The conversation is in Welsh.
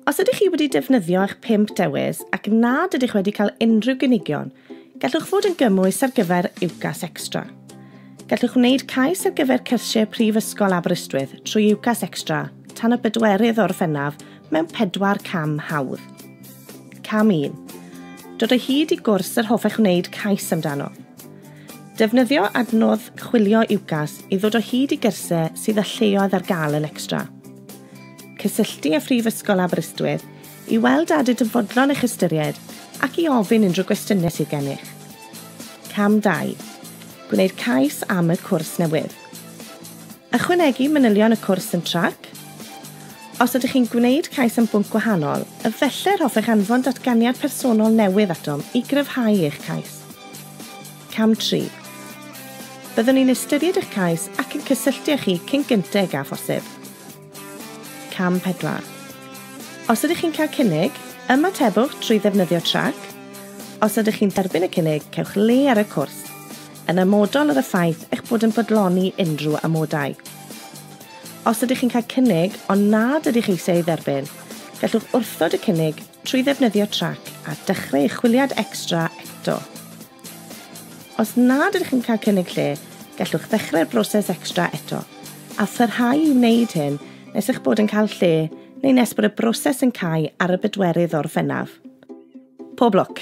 Os ydych chi wedi defnyddio eich pump dewis ac nad ydych wedi cael unrhyw gynigion, gallwch fod yn gymwys ar gyfer UCAS Extra. Gallwch wneud cais ar gyfer cyrsiau Prifysgol Aberystwyth trwy UCAS Extra tan y bedwerydd o Orffennaf mewn pedwar cam hawdd. Cam 1. Dod o hyd i gwrs yr hoffech wneud cais amdano. Defnyddio adnodd chwilio UCAS i ddod o hyd i gyrsiau sydd â lleoedd ar gael yn extra. Cysylltu â Phrifysgol Aberystwyth i weld a ydyd yn fodlon eich ystyried ac i ofyn unrhyw gwestiynau sydd gennych. Cam 2. Gwneud cais am y cwrs newydd. Ychwanegu manylion y cwrs yn trac. Os ydych chi'n gwneud cais am bwnc gwahanol, yfelle'r hoffech anfon datganiad personol newydd atom i gryfhau eich cais. Cam 3. Byddwn ni'n ystyried eich cais ac yn cysylltu â chi cyn gyntaf ag a phosib. Cam 4. Os ydych chi'n cael cynnig, ymatebwch trwy ddefnyddio trac. Os ydych chi'n derbyn y cynnig, cewch le ar y cwrs, yn amodol ar y ffaith eich bod yn bodloni unrhyw amodau. Os ydych chi'n cael cynnig ond nad ydych eisiau ei dderbyn, gallwch wrthod y cynnig trwy ddefnyddio trac a dechrau eich chwiliad extra eto. Os nad ydych yn cael cynnig lle, gallwch ddechrau'r broses extra eto, a pharhau i wneud hyn nes eich bod yn cael lle neu nes bod y broses yn cau ar y bedwerydd Orffennaf. Pob lwc!